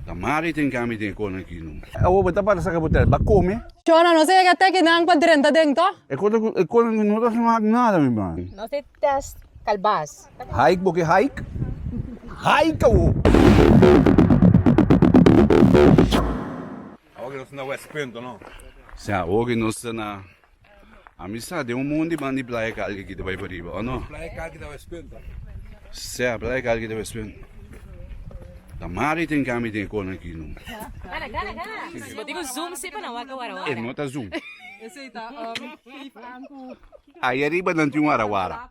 Ta mari tin ke ami tin e kon aki no. Awo bo ta para saka bo tel, ba kome. Cho na nos ega te kinan pa drenta den to. E kon aki, e kon aki no ta smak nada mi man. Nos te test kalbas. Hike bo ke hike, hike awo. Awo ke nos ta na West Punt no. Si awo ke nos ta na. Amistat e un mon di banda i blai e kalki ki ta bai pariba, o no? Blai e kalki ta bai spinta. Sè, blai e kalki ta bai spinta. Ta mara i tin kami i tin e kona aki, no? Si bo tin un zoom si pa nan wak e warawara. E no ta zoom. Esei ta oro, feet an ku. Ai ariba nan tin warawara.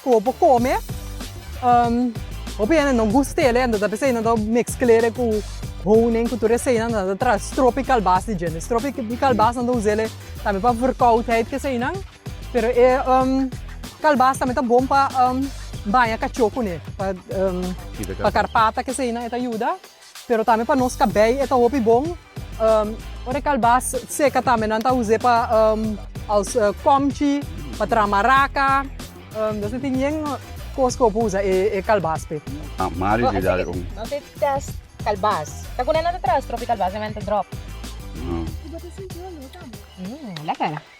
Sco bo come hopi hende no gustele enta ta p'esey nan ta mezclele cu honing cu tur esey nan nan ta traha strop y kalbas di djente strop y kalbas nan ta usele tambe pa verkoudheid kesey nan pero e kalbas tambe ta bon pa baña cacho cune pa carpata kesey nan e ta yuda. Pero tambe pa nos cabei e ta hopi bon. Ora e calbas seca tambe nan ta us'e pa als comchi, pa traha maraca. Nos no tin yen cos cu hopi usa e calbas pe. Mario di dal un. Nos a test calbas. Ta cuna nan ta traha strop di calbas na mente drop. Lekker.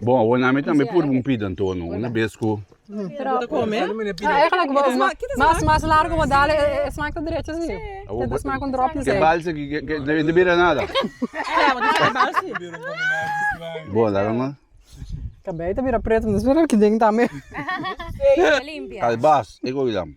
Bon, awor mi tambe purba un pida anto, una bes ku. Mas mas largo bo dal e smak ta derecho si. Te ta smak un drop di sal. Balsa ki no bira nada. Bon, laga no. Kabei ta bira preto, no spera ki den tambe. Kalbas, e go lam.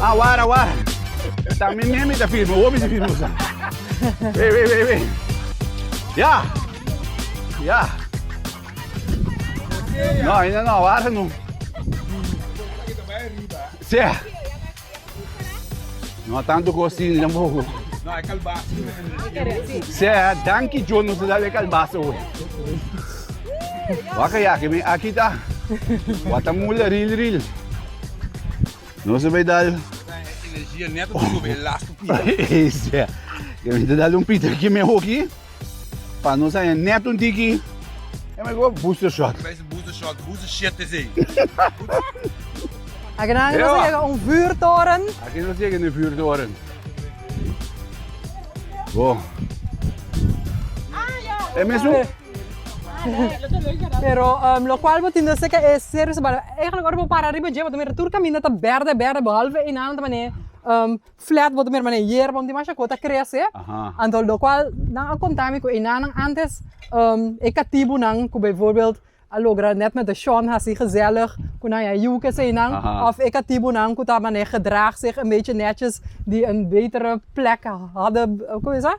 Ah wara wara ta mi mi ta firma hopi ta firma sa wei wei wei wei ya ya no ainda no wara no se no tanto ku si ni tampoco se danki John nos a dal e kalbasa hoy Waka yaki mi aki ta wata mula ril ril. No se bay dal. Energia neto oh. sube last pita. Yo me dal un pita ki me hoki. Pa no sa neto un tiki. É mais igual booster shot. Mas booster shot, booster shit is aí. Aqui não, aqui não chega um vuurtoren. Aqui não chega um vuurtoren. Bom. É mesmo? Pero lo cual bo tin do se ke e ser bisa bala eigenlijk ora bo para riba dje bo ta mira tur caminda ta berde berde behalve enan nan ta mane flat bo ta mira mane yerba un dimasha cosa ta crece anto lo cual nan a conta mi cu enan nan antes e catibu nan cu bijvoorbeeld a logra net met de shon haci gezellig cu nan a yuc esey nan of e catibu nan cu ta mane gedraag zich een beetje netjes die een betere plek hadden hoe heet dat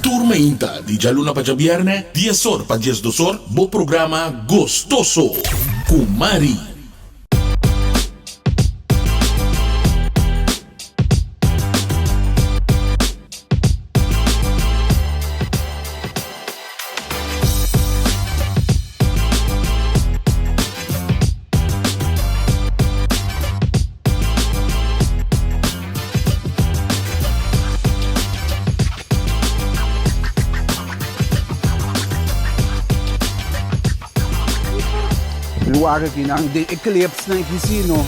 Tur mainta di djaluna pa djabierne, dies or pa dies dos or, bo programa Gostoso cu Mari. Lugar aki nan den e clips nan aki si no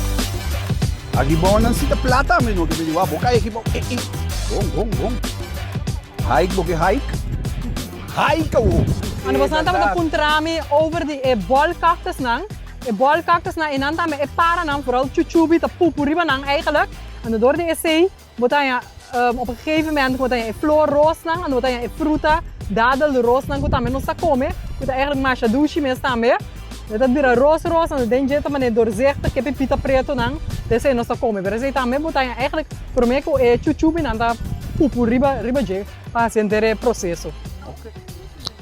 a gibao nan si ta plata mi no ke mi di bo a bo kai aki bo ei ei bon bon bon. Hike bo ke hike? Hike awo! Cuando bosonan tabata puntrami over di e ball cactus nan, e ball cactus nan enan tambe e para nan vooral chuchubi ta pupu riba nan eigenlijk, ando door di esey bo ta haña op een gegeven moment ku bo ta haña e floor roos nan ando bo ta haña e fruta dadel roos nan ku tambe nos ta kome ku ta eigenlijk masha dushi mes tambe. E ta bira rosa rosa na den dje ta manera doorzichtig ke pipita pretonan ta esei nos ta kome pero esei ta me bota ya eigenlijk prome ku e chup chupinan ta pupu riba riba dje pa hasi henter e proseso.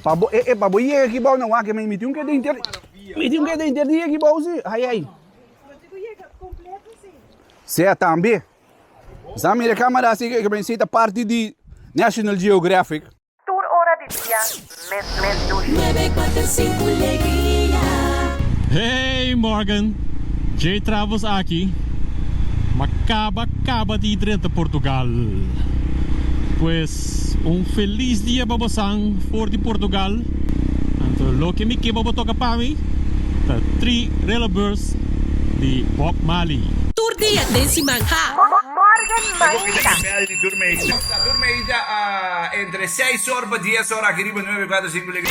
Pa bo e e pa bo yega aki bou nan wak mi tin ke den ter mi tin ke den ter di aki bou si ai ai sea tambe sa mira camera si ke esei ta parti di National Geographic. Tur ora di dia, mes mes dushi. Hey Morgan! Jay Travels aki, m'a caba caba di drenta Portugal. Pues un feliz dia pa bosan for di Portugal. Anto loke mi ke bo bo toca pa mi ta tri Relebeurs di Bob Marley. Tur dia den siman ha. Morgan Maida. Entre seis or pa dies or aki riba nuebe cuater cinco legria.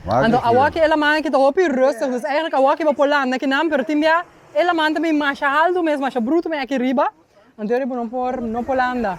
Anto awoki e laman ki ta hopi rustig, dus eigenlijk awoki bo por landa ki nan, pero tin bia e laman ta bin masha alto mes, masha bruto mes aki riba, anto e riba no por no por landa.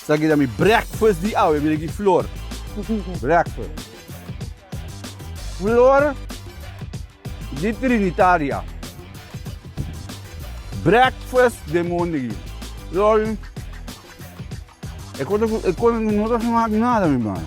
Esaki ta mi breakfast di awe. Mira aki flor. Breakfast. Flor di Trinitaria. Breakfast den mondegi. Flor di. E cosa cu no ta haci mak nada mi mano.